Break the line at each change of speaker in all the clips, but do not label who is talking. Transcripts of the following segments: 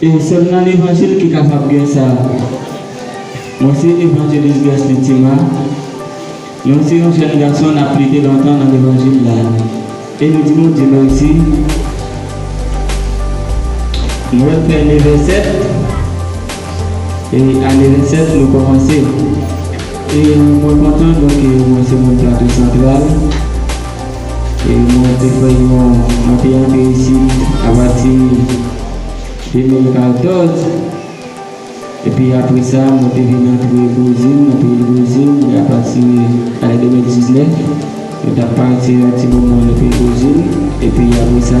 E sèl nan levanjil ki kapab gen sa. Mwen se Evanjelis Guestin Tima, mwen se yon jèn gason nap plede lontan nan levanjil la e m di Bondye mèsi m wè pè neve 7 e aneve 7 nou kòmanse e mwen kontan donk mwen se moun plato santral. Mwen te fè yon anpe anpe isit apati 2014. Epi apre sa, mwen te vin antre Brezil, nan peyi Brezil, e apati ane 2019, mwen t ap pase yon ti moman nan peyi Brezil. Epi apre sa.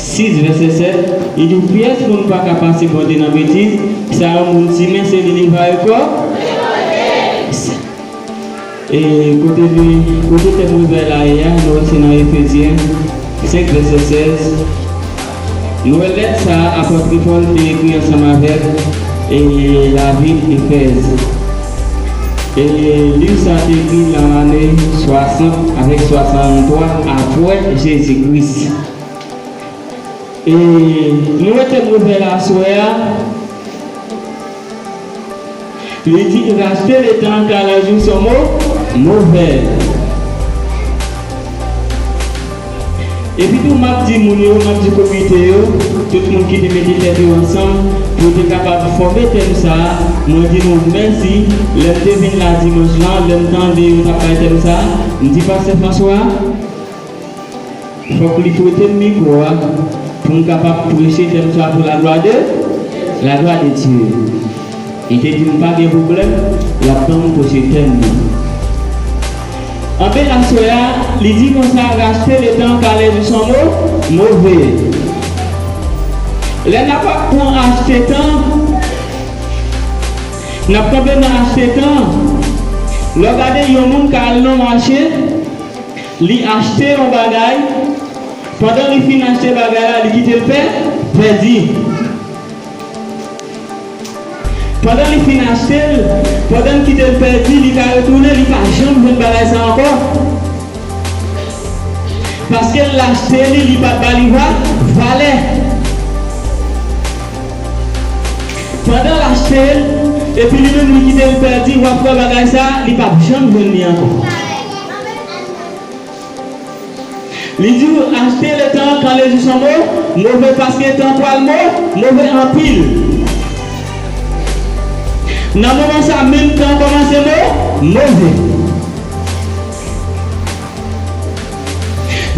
6 vèsè 7, li di w pyès moun pa ka pase Bondye nan betiz, sa yon moun simen se li li va rekò, s, e kote li, kote tèm rezay la ye a, nou wè se nan Efezyen 5 vèsè 16, nou wè lèt sa a apòtre Pòl te ekri ansanm avèk e lavil Efèz, e liv sa a te ekri nan ane 60 avèk 63 apwè Jezi Kris. E li wete moun pè la aswè a, li di li rachte leta an ka la jou son mo movè. Epi tou map di moun yo, map di komite yo, tout moun ki te mete tèt yo ansanm pou yo te kapab fòme tèm sa, mwen di nou mèsi, lè m te vin la dimanch lan, lè m tande yo tap bay tèm sa, m di pastè François, Fòk li prete m mikwo a pou m kapab preche tèm sa pou laglwa de, laglwa de Dye. Li te di m pa gen pwoblèm, l ap ban m preche tèm nan. Anben aswè a, li di konsa, rachte letan palè nou san mo, move. Lè n ap ap pran achte tan, n ap kanpe nan achte tan. Lè w gade yon moun ka al nan mache. Li achte yon bagay, pandan li fin achte bagay la, li kite l pè, pèdi. Pandan li fin achte l, pandan l kite l pèdi, li ka retounen, li pa janm jwenn bagay sa ankò. Paske l achte li, li pa ba li va, valè. Pandan l achte l, epi li menm li kite l pèdi, w ap wè bagay sa, li p ap janm jwenn li ankò. Li diw achte le tan kan le jou san mo move paske tan pwal mo move anpil nan moman sa menm tan komanse mo move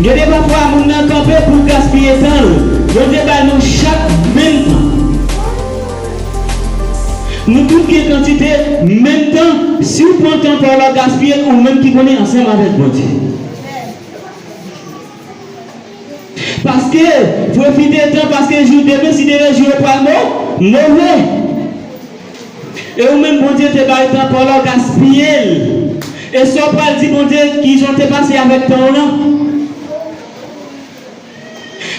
gen de pafwa moun nan kanpe poul gaspiye tanl Bondye bay nou chak menm tan. Nou tout gen kantite menm tan siw pran tan paw lap gaspiyel ou menm ki konnen ansanm avèk Bondye paske pwofite tan paske jou demen si demen jou yo pral mo move e ou menm Bondye te bay tan paw la ou gaspiyel e Saw pral di Bondye kijan ou te pase avèk tanw lan.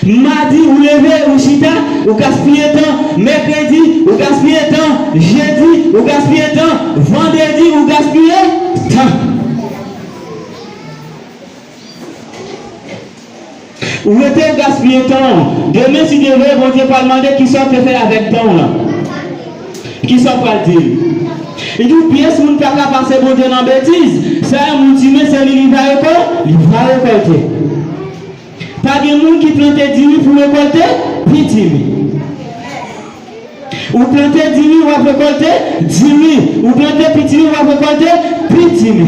Madi, ou leve, ou chita, ou gaspiye tan, mèkredi, ou gaspiye tan, jedi, ou gaspiye tan, vandredi, ou gaspiye tan. Ou rete, ou gaspiye tan ou. Demen, si Dye vle, Bondye pral mande kisa ou te fè avèk tan ou lan. Kisa w pral di l? Yon pyès moun pa ka pase Bondye nan betiz. Sa yon moun simen, se li li va rekò, li va rekòlte. Pa gen moun ki plante diri pou rekòlte pitimi. Ou plante diri, w ap rekòlte diri. Ou plante pitimi, w ap rekòlte pitimi.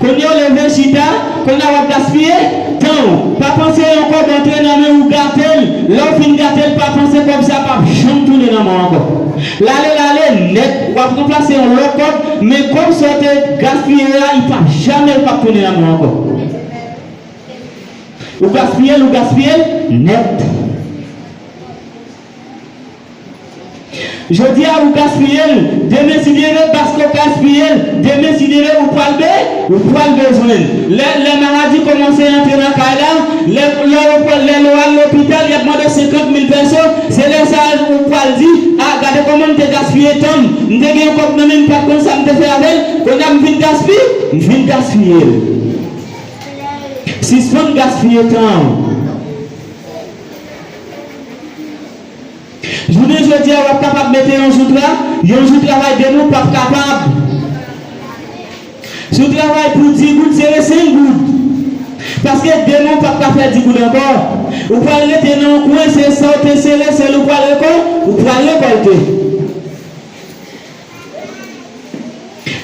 Kounye w leve chita, kounye a w ap gaspiye tan w. Pa panse yon kòb antre nan men ou gate l, lè w fin gate l pa panse kòb sa pap janm tounen nan men w ankò. L ale l ale nèt, w ap ranplase yon lòt kòb, men kòb sa w te gaspiye a li pap jamè l pap tounen nan men w ankò. Ou gaspiye l, ou gaspiye l nèt. Jodi a ou gaspiye l, demen si Dye vle paske w gaspiye l, demen si Dye vle ou pral be, ou pral bezwen l. Lè, lè maladi kòmanse antre nan kay la, lè, lè ou pral, lè ou al lopital y ap mande 50 mil pèso, se lè sa a ou pral di, a, gade kòman m te gaspiye tan m, m te gen yon kòb nan men m pa t konn sa m te fè avè l, kounye a m fin gaspi, m fin gaspiye l. Sispann gaspiye tan w. Jounen jodi a wap kapab mete yon jou tra, yon jou travay de moun pap kapab. Si w travay pou 10 goud sere 5 goud. Paske demen w pap ka fè 10 goud ankò. Ou pral rete nan yon kwen se sa w te sere sèl ou pral rekò, ou pral rekòlte.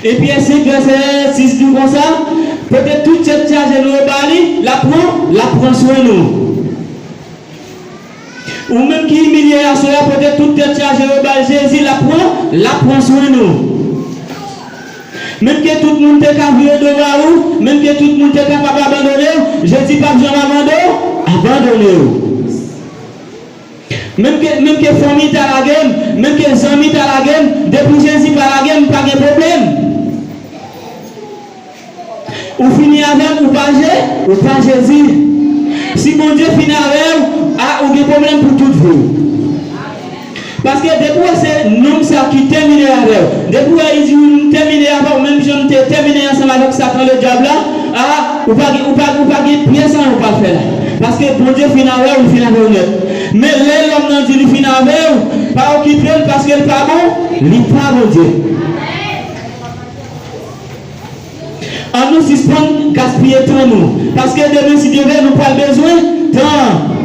E pyè 5 lè sè 6 di w konsa, pote tout tèt chaje nou yo ba li, lap pran, lap pran swen nou. Ou menm ki imilye aswè a pote tout tèt chaje yo bal Jezi lap pran lap pran swen nou menm ke tout moun te ka vire do ba ou menm ke tout moun te kapab abandonew Jezi pap janm abando abandonew menm ke menm ke fanmi ta lagem menm ke zanmi ta lagem depi Jezi pa lagem m pa gen pwoblèm. Ou fini avèm ou pa je ou pa jezi si bondye fini avèw ah ou gen problèm pou tout viw paske depi wè se nonm sa ki tèmine avèw depi wè li di m tèmine avèw menm janm te tèmine ansanm avèk satan le dyab la ah ou pa gen ou pa ou pa gen pyès anyen ou pral fè la paske bondye fini avèw li fini avèw nèt men lè lòm nan di li fini avèw pa okipel paskel pa bon li pa bondye. An nou sispann gaspiye tan nou, paske demen si Dye vle nou pral bezwen tan an.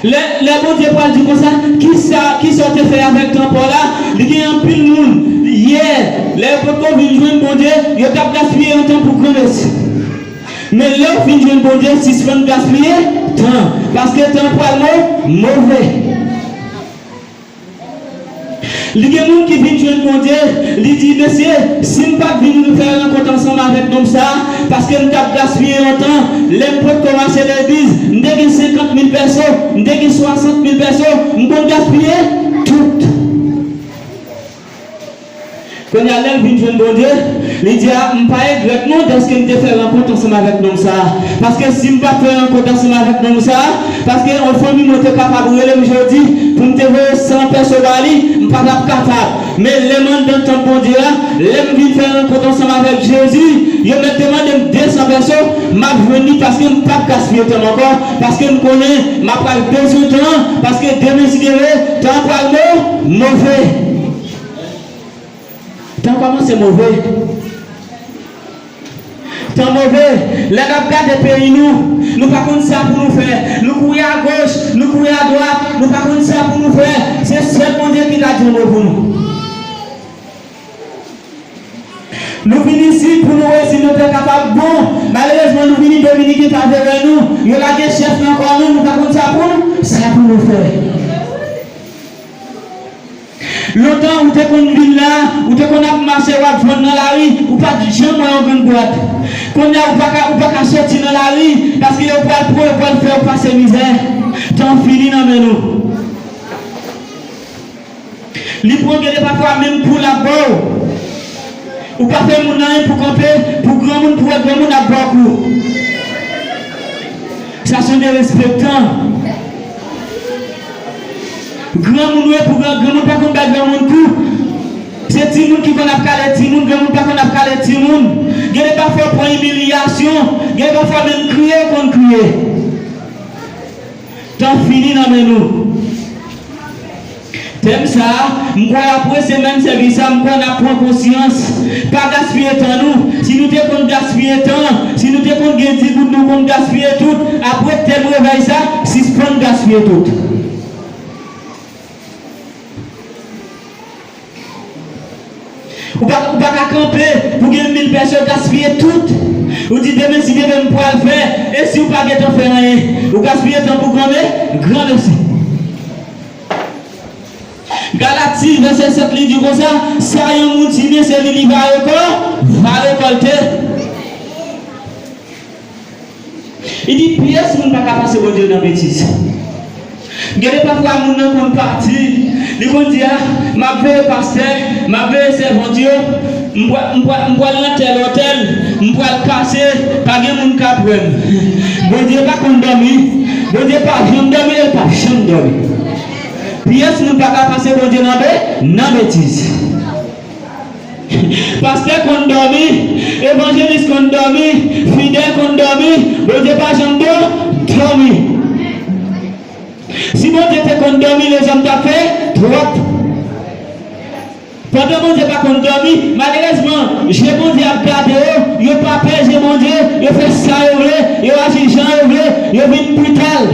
Lè, lè Bondye pral di konsa, kisa, kisa w te fè avèk tan pa w la? Li gen anpil moun, yè, lè yo potko vin jwenn Bondye, yo t ap gaspiye yon tan pou granmesi. Men lè w fin jwenn Bondye, sispann gaspiye tan, paske tan pral mo, move. Li gen moun ki vin jwenn Bondye, li di, Mesye, si m pa t vin fè rankont ansanm avèk nonm sa a, paske m t ap gaspiye yon tan, lè m potko mache legliz, m te gen senkant mil pèso, m te gen swasant mil pèso, m konn gaspiye tout. Kounye a, lè l vin jwenn Bondye, li di, A, m pa egrèt non dèske m te fè rankont ansanm avèk nonm sa a. Paske, si m pa t fè rankont ansanm avèk nonm sa a, paske, anfòmi mwen te kapab rele m jodi pou m te voye san pèso ba li, m pa t ap kapab. Men, lè m anndan tanp Bondye a, lè m vin fè rankont ansanm avèk Jezi, yo mèt te mande m desan pèso, m ap jwenn li paske m pap gaspiye tan m ankò, Paske m konnen m apral bezwen tan an, paske demonsidere tan an pral mo, move. Tan kòmanse move. Tan move. Lè n ap gade peyi nou, nou pa konn sa pou nou fè. Nou kouri agoch, nou kouri adwat, nou pa konn sa pou nou fè. Se sèl Bondye ki ka di yon mo pou nou. Nou vin isit pou nou wè si nou te kapab bon. Malerezman nou vini Dominiken pa vle wè nou. Yo lage chèf nan kò nou, nou pa konn sa pou sa pou nou fè. Lontan ou te konn vin la, ou te konn ap mache wap jwenn nan lari, ou pat janm wè yon grenn dwat. Konnya ou pa ka ou pa ka soti nan lari paske yo pral pran yo pral fèw pase mizè. Tan fini nan men nou. Li pran gede pafwa menm poul ap baw ou pa fè moun anyen pou kanpe pou granmoun pou wè granmoun ap baw kou sa son derespektan granmoun wi pou granmoun pa konn bay granmoun kou se timoun ki konn ap kale timoun granmoun pa konn ap kale timoun gede pafwa ou pran imilyasyon gede pafwa menm kriye ou konn kriye. Tan fini nan men nou. Tèm sa, m kwè apre semèn sèvis sa m kwè n ap pran konsyans. Pa gaspiye tan nou. Si nou te konn gaspiye tan, si nou te konn gen di goud nou konn gaspiye tout, apre tèm revèy sa, sispann gaspiye tout. Ou pa ou pa ka kanpe pou gen mil pèson gaspiye tout ou di demen si demen m pral fè e si ou pa gentan fè anyen ou gaspiye tan pou granme granmesi. Galati vèsè 7 li di konsa sa yon moun simen se li li va rekò va rekòlte. Li di pyès moun pa ka pase Bondye nan betiz. Gede pafwa moun nan konn pati, li konn di a, m ap veye pastè, m ap veye sèvant yo, m pwa, m pwa, m pwal nan tèl otèl, m pwal pase, pa gen moun k'ap wè m. Bondye pa konn dòmi, Bondye pa janm dòmi e l pap janm dòmi. Pyès moun pa ka pase Bondye nan be, nan betiz. Pastè konn dòmi, evanjelis konn dòmi, fidèl konn dòmi, Bondye pa janm do, dòmi. Si Bondye te konn dòmi lezòm tap fè twòp. Pandan Bondye pa konn dòmi, malerezman je Bondye ap gade yo, yo pa pè je Bondye, yo fè sa yo vle, yo aji jan yo vle, yo vin brital.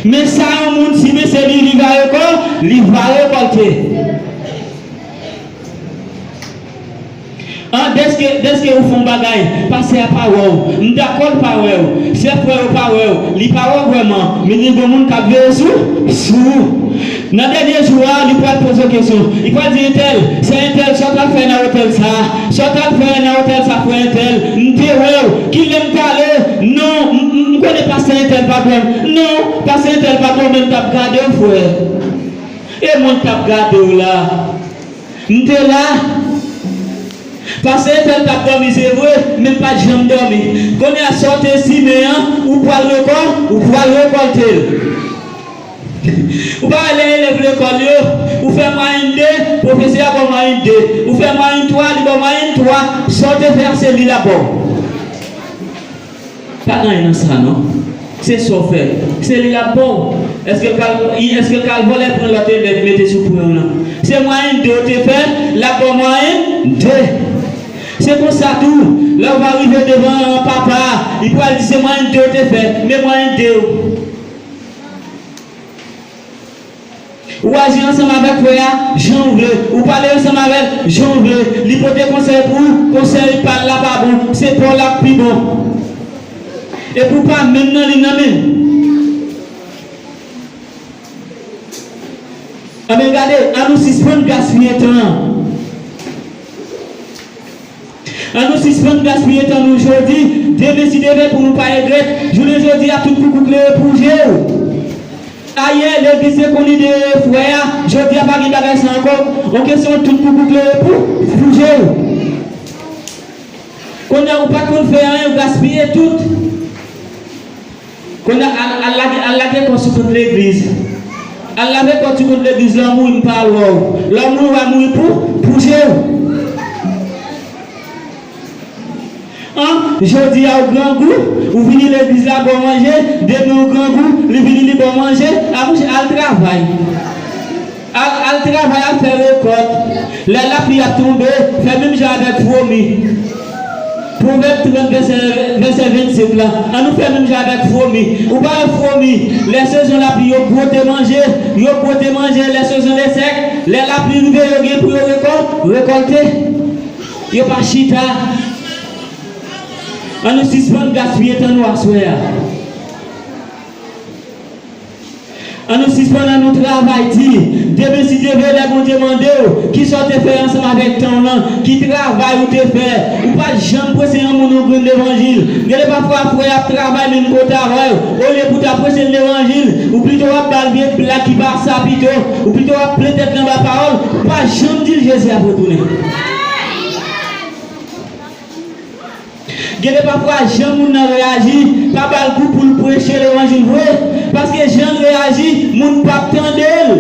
Men sa yon moun simen se li li va rekò, li va rekòlte. An deske deske ou fè yon bagay, pastè a pa wè w, m dakò l pa wè w, sè frè yo pa wè w, li pa wè w vrèman, men gen yon moun k ap veye sou sou ou. Nan dènye jou a, li pral poze w kesyon. Li pral di, Entèl, sè Entèl, sa w t ap fè nan otèl sa a? Sa w t ap fè nan otèl sa a, frè Entèl? M te wè w. Ki lè m t ale? Non, m, m, m konnen pastè Entèl pa t wè m. Non, pastè Entèl pa t wè w, men m t ap gade w, frè. E mwen k t ap gade w la a? M te la. Pastè Entèl t ap dòmi, se vre, men m pa t janm dòmi. Kounye a, sa w te simen an, ou pral rekò, ou pral rekòlte l. Ou pa wè lè elèv lekòl yo, ou fè mwayenn 2, pwofesè a ba w mwayenn 2. Ou fè mwayenn 3, li ba w mwayenn 3. Sa w te fè a se li l ap ba w. Pa gen anyen nan sa non. Se sa w fè. Se li l ap ba w. Èske l pral, I, èske l pral vole pwen lòt elèv mete sou pwen w lan? Se mwayenn 2 ou te fè, l ap ba w mwayenn 2. Se konsa tou, lè ou va rive devan papa a, li pral di se mwayenn 2 ou te fè, men mwayenn 2 ou. Ou aji ansanm avèk frè a jan ou vle, ou pale ansanm avè l jan ou vle, li pote konsèy pou ou, konsèy pa l la pa bon, se pa w l ap pi bon. Epi ou pa menm nan li nan menm. Anben gade, annou sispann gaspiye tan an. An nou sispann gaspiye tan nou jodi, demen si demen pou nou pa regrèt, jounen jodi a tout koukou klere pou je w. Ayè legliz te konn ide frè a, jodi a pa gen bagay sa ankò, on kesyon tout koukou klere pou pou je w. Kounye a ou pa konn fè anyen ou gaspiye tout. Kounya al lage al lage kò sou kont legliz al lave kò sou kont legliz lè w mouri m pa al wè w lè w mouri wa mouri pou pou je w an jodi a w grangou ou vini legliz la ba w manje demen w grangou li vini li ba w manje a mouche al travay. Al al travay al fè rekòt lè lapli ap tonbe fè menm jan avèk fromi pwovèb 30 vèsè vèsè 25 lan an nou fè menm jan avèk fromi ou pa wè fromi lè sezon lapli yo bwote manje yo bwote manje lè sezon le sèk lè lapli rive yo gen pou yo rekò rekòlte yo pa chita an nou sispann gaspiye tan nou aswè a. An nou sispann an nou travay di demen si Dye vle lè Bondye mandew kisa ou te fè ansanm avèk tanw lan ki travay ou te fè ou pat janm prese yon moun yon grenn levanjil gede pafwa frè ap travay menm kote avèw olye pou ta presel levanjil ou pito wap bal vye blag ki pa sa pito ou pito wap plen tèt li anba pawòl ou pa janm dil Jezi ap retounen. Gede pafwa jan moun nan reyaji pa bal gou poul preche levanjil vre paske janl reyaji moun pap tandel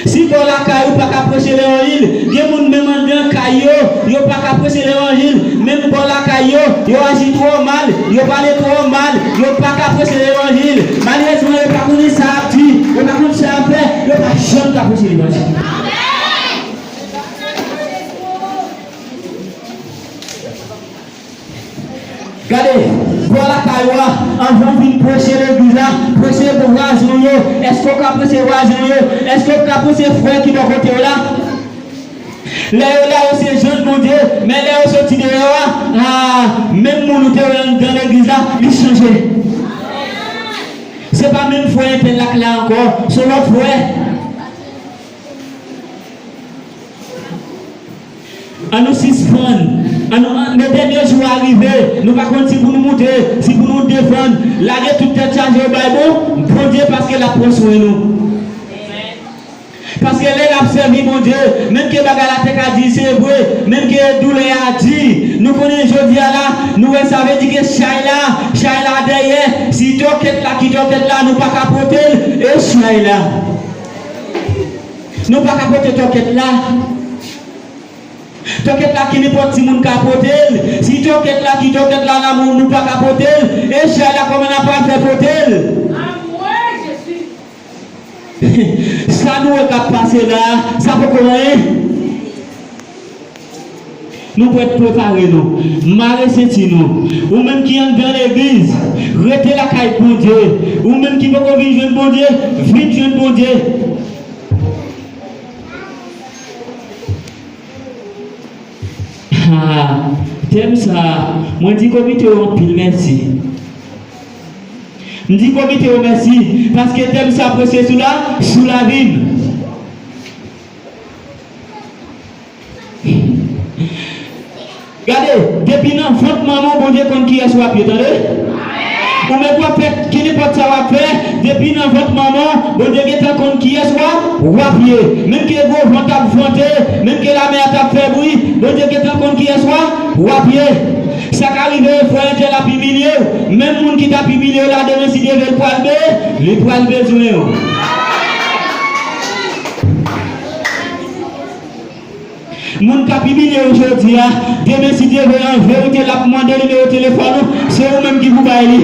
si bò lakay ou paka preche levanjil gen moun menm andan kay yo yo paka preche levanjil menm bò lakay yo yo aji trò mal yo pale trò mal yo paka preche levanjil malerezman yo pa konnen sa yap di yo pa konn sa yap fè yo pa janm ka preche levanjil. Gade, bwa lakay ou a, anvan ou vin preche legliz la, preche pou vwazen ou yo. Èske ou ka preche vwazen ou yo? Èske ou ka preche frè ki bò kote ou la? Lè yo la, yo se jan Bondye, men lè yo soti deyò a, a, menm moun ou te wè anndan legliz la, li chanje. Se pa menm frè entèl la k la ankò, s on lòt frè. An nou sispann, an nou an, le dènye jou a rive, nou pa konn si pou nou moute, si pou nou desann, lage tout tèt chaje yo bay bon, Bondye paske lap pran swen nou. Paske lè nap sèvi Bondye, menm ke bagay la te ka di, se vre, menm ke doulè a di, nou konnen jodi a la, nou wè sa vle di ke chay la, chay la dèyè, si tòkèt la ki tòkèt la nou pa ka potel, e chay la. Nou pa ka pote tòkèt la. Tòkèt la ki nenpòt ti moun ka pote l. Si tòkèt la ki tòkèt la la moun nou pa ka pote l, e chay la kòman na pral fè pote l? Anmwee Jezi! Sa nou wè kap pase la, sa poko anyen? Nou prèt prepare nou. Mare senti nou. Ou menm ki anndan legliz, rete lakay Bondye. Ou menm ki poko vin jwenn Bondye, vin jwenn Bondye. Ha, tèm sa a, mwen di komite yo anpil mèsi. M di komite yo mèsi paske tèm sa preche sou la, sou lavi m. Gade, depi nan vant manman w Bondye konn kiyès wap ye tande. Ou menm wap fè kenenpòt sa wap fè, depi nan vant manman w Bondye gentan konn kiyès wap ye. Menm ke gwo van tap vante, menm ke lamè a tap fè bri, Bondye gentan konn kiyès wap ye. Sa ka rive frè Angel ap imilye w, menm moun ki tap imilye w la demen si Dye vle l pral be, li pral bezwen w. Moun kap imilye ou jodi a, demen si Dye vle an verite lap mande nimewo telefòn ou, se ou menm ki pou bay li.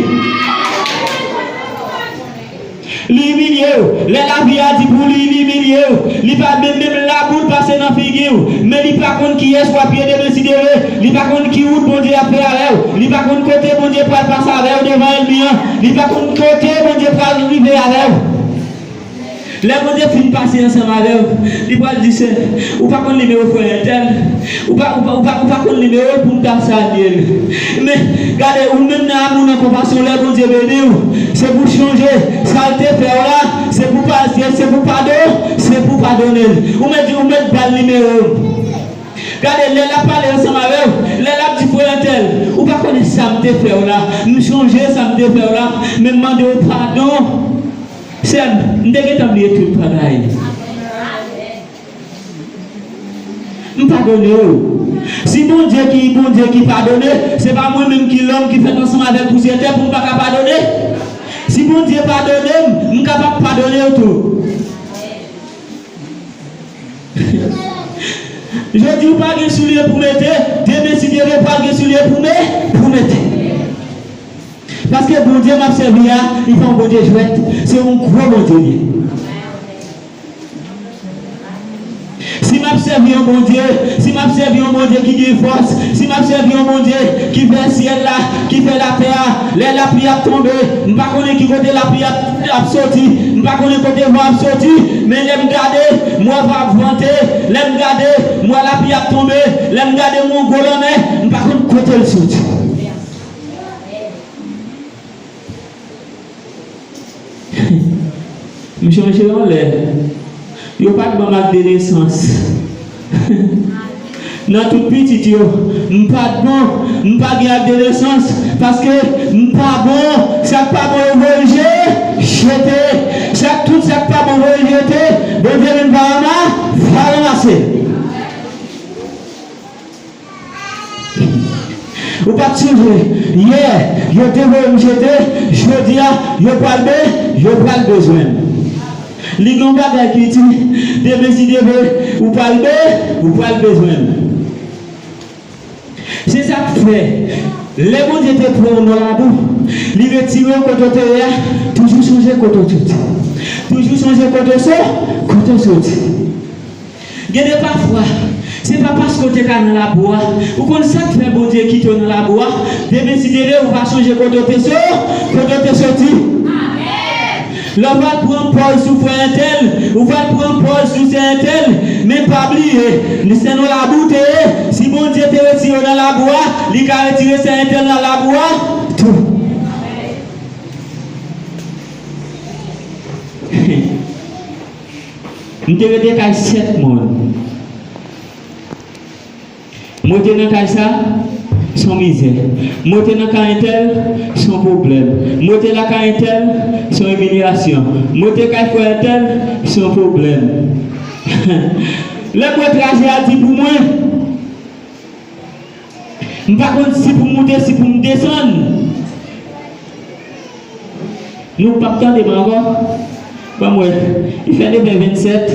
Li imilye ou, lè lavi a di pou li li imilye ou, li pa menm menm la poul pase nan figi ou, men li pa konn kiyès wap ye demen si Dye vle, li pa konn ki wout Bondye ap fè avèw, li pa konn kote Bondye pral pase avèw devan ènmi an, li pa konn kote Bondye pral rive avèw. Lè Bondye fin pase ansanm avè w, li pral di se, Ou pa konn nimewo frè entèl? Ou pa, ou pa, ou pa, ou pa konn nimewo l pou m ta salye l? Men, gade, ou menm nan amou, nan konpasyon w, lè Bondye beni w, se pou w chonje sa l te fè w la, se pou w pa, se, se pou w padon, se pou w padone l. Ou mèt di, ou mèt ba l nimewo m. Gade, lè l ap pale ansanm avè w, lè l ap di, Frè entèl, ou pa konnen sa m te fè w la, m chonje sa m te fè w la, men m mande w padon. Sèm, m te gentan bliye tout bagay. M padone w. Si Bondye ki Bondye ki padone, se pa mwen menm ki lòm ki fèt ansanm avèk pousyè tè pou m pa ka padone. Si Bondye padone m, m kapab padone w tou. Jodi w pa gen soulye pou mete, demen si Dye vle pral gen soulye pou me, pou mete. Paske Bondye map sèvi a li pa yon Bondye jwèt se yon gwo Bondye li ye. Si map sèvi yon Bondye, si map sèvi yon Bondye ki gen fòs, si map sèvi yon Bondye ki fè syèl la, ki fè latè a, lè lapli ap tonbe, m pa konnen ki kote lapli ap ap soti, m pa konnen kote van ap soti, men lè m gade, m wè van ap vante, lè m gade, m wè lapli ap tonbe, lè m gade m wè yon gwo lanmè, m pa konn kote l soti. Misye mete yo anlè. Yo pa k ban m ak de nesans. Nan tout pitit yo, m pa t bon. M pa gen ak de nesans paske m pa bon. Sa k pa bon yo voye je, jete. Sa k tout sa k pa bon voye jete, Bondye menm pa rama, va ranmase. Ou pat siw vre yè yo te voyem jete jodia yo pral be yo pral bezwenm li gon bagay ki di demen si Dieu veut ou pral be ou pral bezwenm se sak fè lè Bondye te pranw nan labou li retirew kote ou te ye a toujou sonje kote ou te toujou sonje kote ou so kote ou soti. Gen de pafwa, se pa paske w te ka nan labou a. Ou konn sa k fè Bondye kite w nan labou a? Demen si de lè ou va sonje kote w te so, kote w te soti. Lè w pral pran pòz sou frè entèl, ou pral pran pòz sou sè entèl, men pa bliye, li se nan labou w te ye, si Bondye te retire w nan labou a, li ka retire sè entèl nan labou a tou. Amen. M te rete kay 7 mòn. M rete nan kay sa, s on mizè. M rete nan kay entèl, s on pwoblèm. M rete lakay entèl, s on imilyasyon. M rete kay frè entèl, s on pwoblèm. Lè m wè traje a di pou mwen. M pa konn si pou moute si pou m desann. Nou pap tande m ankò? Ban m wè. Li fè neuvè vennsèt.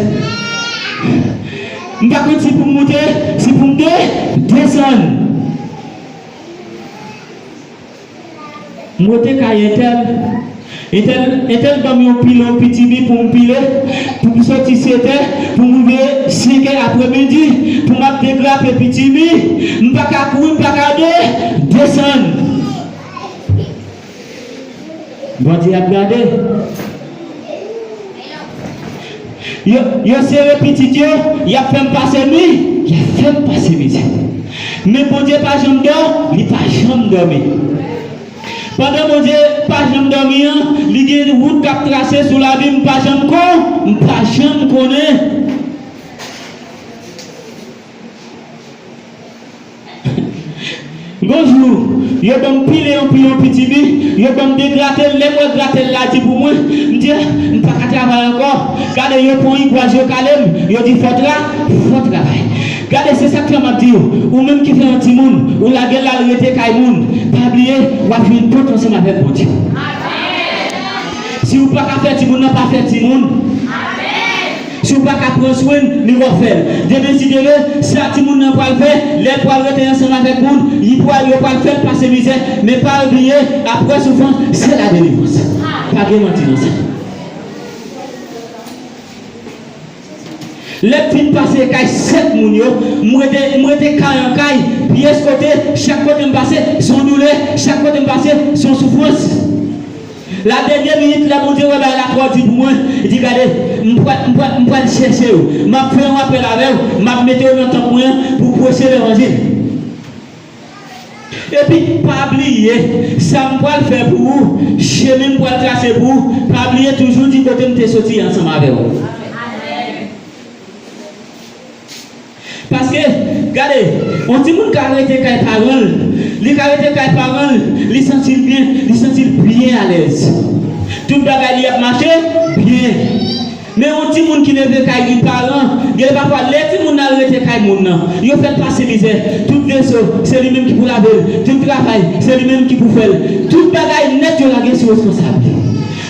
M pa konn si pou m moute si pou m de. Desann. M rete kay entèl, entèl, entèl banm yon pilon pitimi pou m pile, pou m soti setè, pou m rive senkè apremidi, pou m ap degrape pitimi, m pa ka kouri, m pa ka de, desann. Bondye ap gade. Yo sere pitit yo, y ap fè m pase nwi, y ap fè m pase mizè. Men Bondye pa janm dò, li pa janm dòmi. Pandan Bondye pa janm dòmi an, li gen yon wout k ap trase sou lavi m, m pa janm kon, m pa janm konnen. Yon jou, yo ban m pile yon piyon piti mi, yo ban m degrate l, lè m wè grate l la di pou mwen, m di, ah, m pa ka travay ankò, gade yo pran rigwaz yo kale m, yo di fò tra, fò travay. Gade se sa k fè m ap di w, ou menm ki fè yon timoun, ou lage l al rete kay moun, pa bliye w ap jwenn pòt ansanm avèk Bondye. Si ou pa ka fè timoun nan, pa fè timoun. Si w pa ka pran swen l, li wap fè l. Gen desidere, sa timoun nan pral fè, lè l pral rete ansanm avèk moun, li pral, yo pral fè l pase mizè, men pa bliye, aprè soufrans, se la delivrans. Pa gen manti nan sa. Lè m fin pase kay 7 moun yo, m rete, m rete kay an kay, pyès kote, chak kote m pase, son doulè, chak kote m pase, son soufrans. La dènye minit lè Bondye wè bagay la twò di pou mwen, li di gade, m pwè, m pwè, m pwal chèche yo, map fè yon apèl avèw, map mete yo nan tanp mwen an pou preche levanjil. Epi pa bliye sam pwal fè pou ou, chemin m pwal trase pou ou, pa bliye toujou di kotem te soti ansanm avèw. Paske, gade, yon timoun ka rete kay paran l, li ka rete kay paran l, li santi l byen, li santi l byen alèz. Tout bagay li ap mache byen. Men yon timoun ki leve kay yon paran, gen lè pafwa lè timoun nan al rete kay moun nan, yo fè l pase mizè, tout veso, se li menm ki pou lave l, tout travay, se li menm ki pou fè l, tout bagay nèt yo lage sou responsab li.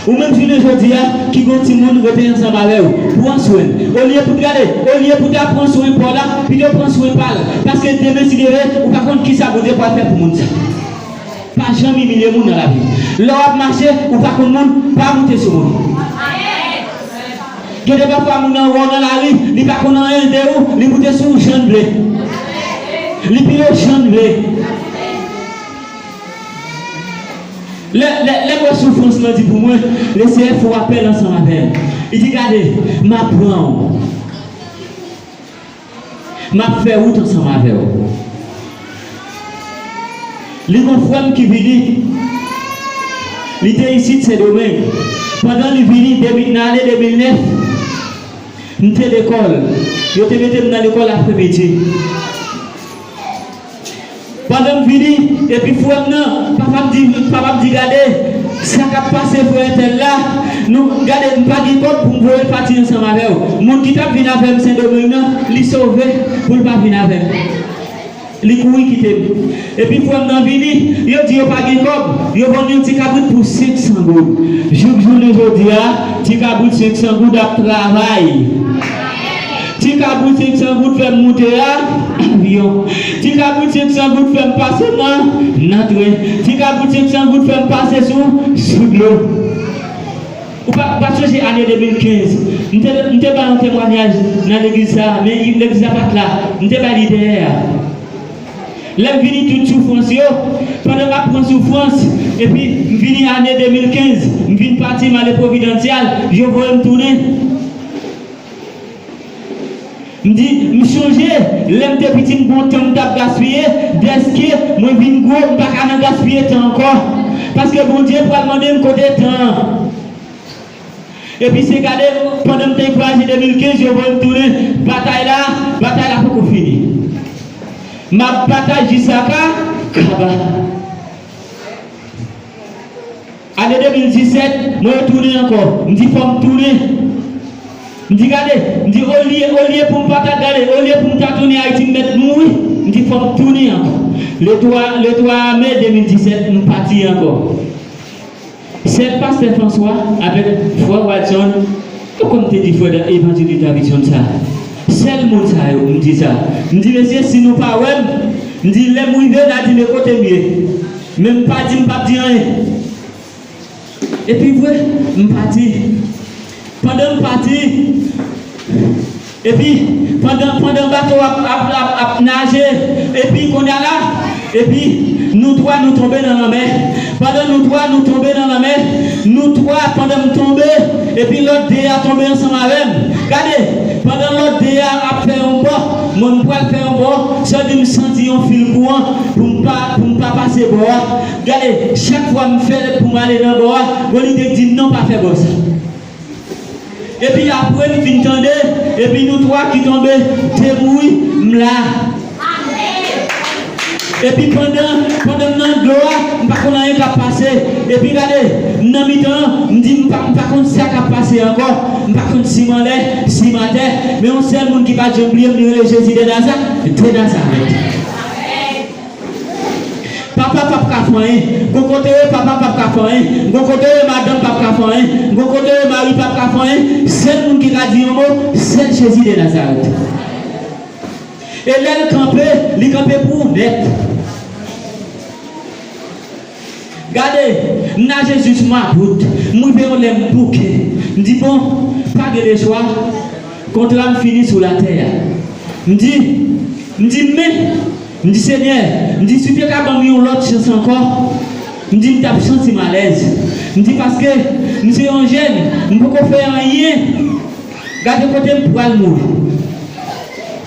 Ou menm jounen jodi a ki gon timoun rete ansanm avè ou, pran swen l. Olye pou t gade, olye pou ta pran swen paw la, pito pran swen pa l, paske demen si deve ou pa konn kisa Bondye pwal fè pou moun sa. Pa janm imilye moun nan lavi. Lè wap mache ou pa konn moun, pa moute sou moun. Gen de pafwa moun nan wè w nan lari, li pa konn anyen de ou, li moute sou ou jan l vle. Li pile w jan l vle. Lè, lè, lè m wè soufrans lan di pou mwen, Le Seyè fè w apèl ansanm avè l. Li di, Gade, m ap pran w. M ap fè wout ansanm avè w. Li gon frè m ki vini, li te isit Sendomeng. Pandan li vini, depi nan ane 2009, m te lekòl. Yo te mete m nan lekòl apremidi. Pandan m vini epi frè m nan papa m di gade sa k ap pase frè entèl la nou gade m pa gen kòb pou m voye l pati ansanm avè w moun ki t ap vin avè m sendomeng nan li sove pou l pa vin avè m li kouri kite m epi frè m nan vini yo di yo pa gen kòb yo vann yon ti kabrit pou 500 goud jouk jounen jodi a ti kabrit 500 goud ap travay. Ti kabrit 500 goud fèm moute a vyon Ti kabrit 500 goud fèm pase nan nan tren Ti kabrit 500 goud fèm pase sou sou dlo Ou pa pa sonje ane 2015 m te m te bay yon temwanyaj nan legliz sa a men legliz la pa t la m te bay li dèyè a Lè m vini tout soufrans yo pandan m ap pran soufrans epi m vini ane 2015 m vin pati m ale Providancial yo voye m tounen M di, M chonje lè m te piti m gon tan m t ap gaspiye, dèske mwen vin gwo m pa ka nan gaspiye tan ankò, paske Bondye pral mande m kote tan an. Epi se gade pandan m te ankouraje 2015 yo voye m tounen batay la, batay la poko fini. M ap batay jis sa ka kaba. Ane 2017, mwen retounen ankò. M di fò m tounen. M di gade, m di olye, olye pou m pa ta gade, olye pou m ta tounen Ayiti m mèt mouri, m di fò m tounen ankò. Le 3, le 3 a me 2017, m pati ankò. Sèl pastè Franswa avèk frè Watson, ou kòm te di frè Dan Evanjelis Davidson sa, sèl moun sa yo m di sa. M di mesye si nou pa wè m, m di lè m rive n a di me kote m ye. Men m pa di m pap di anyen. Epi vre, m pa di. Pandan m pa di. Epi, pandan, pandan bato a ap, ap, ap, ap naje, epi, kounye a la, epi, nou twa nou tonbe nan lanmè. Pandan nou twa nou tonbe nan lanmè, nou twa, pandan m tonbe, epi lòt de a tonbe ansanm avè m. Gade, pandan lòt de a ap fè yon bò, mwen m pral fè yon bò, sèldi m santi yon fil kouran pou m pa. Pou m pa pase bò a. Gade, chak fwa m fè l pou m ale nan bò a, bon li te di m non pa fè bò sa. Epi apre m fin tande, epi nou twa ki tonbe deboui, m la. Epi pandan, pandan m nan dlo a, m pa konn anyen k ap pase. Epi gade, m nan mitan an, m di m pa, m pa konn sa k ap pase ankò, m pa konn si m anlè, si m atè, men yon sèl moun ki pa t janm bliye m li rele Jezi dè Nazarèt. Papa pap ka fè anyen. Gon kote ye papa pap ka fè anyen. Gon kote ye madanm pap ka fè anyen. Gon kote ye mari pap ka fè anyen. Sèl moun ki ka di yon mo, sèl Jezi de Nazarèt. E lè l kanpe, li kanpe pou ou nèt. Gade, m naje jis mwa dout, m rive yon lè m bouke. M di bon, pa gen lechwa, kontra m fini sou latè a. M di, m di men, m di Senyè, m di si w te ka ban m yon lòt chans ankò, m di m t ap santi m alèz. M di paske m se yon jèn, m poko fè anyen, gade kote m pral mouri.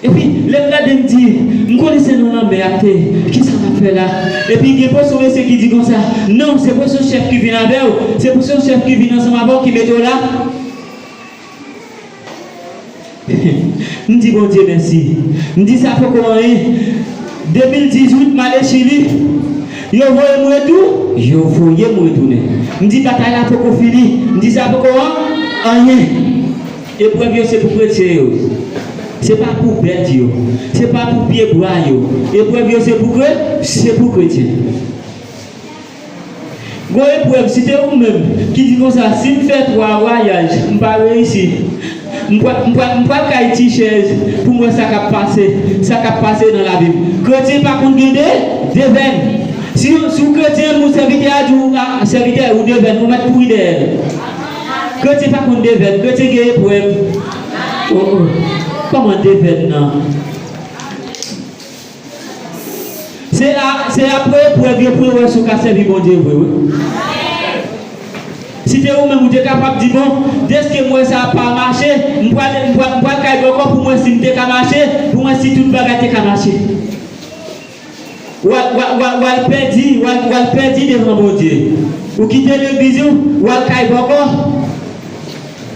Epi, lè m gade m di, M konnen se nan lanmè y ap te, ki sa m ap fè la? Epi, gen pwesyon mesye ki di konsa, Non, se pwesyon chèf ki vin avè w, se pwesyon chèf ki vin ansanm avè w ki mete w la. M di Bondye mèsi. M di sa poko anyen. 2018, m ale Chili. Yo voye m retou. Yo voye m retounen. M di batay la poko fini. M di sa poko an, anyen. Eprèv yo se pou kretyen yo. Se pa pou bèt yo. Se pa pou pye bwa yo. Eprèv yo se pou kre, se pou kretyen. Gon eprèv si te ou menm ki di konsa si m fè 3 vwayaj m pa reyisi m pral m pral m pral kay ti chèz pou m wè sa kap pase sa kap pase nan lavi m. Kretyen pa konn gen de devèn. Si yon si w kretyen yon sèvitè a di w a sèvitè ou devèn ou mèt kouri dèyè l. Kretyen pa konn devèn, kretyen gen eprèv oh oh Kòman devèn nan Se a, se apre eprèv yo pou yo wè si w ka sèvi Bondye vre wi Si te ou menm ou te kapab di bon deske m wè sa a pa mache m pral, m pral kay bòkò pou m wè si m te ka mache, pou m wè si tout bagay te ka mache. Wa wal pèdi wal pèdi devan Bondye ou kite legliz ou wal kay bòkò.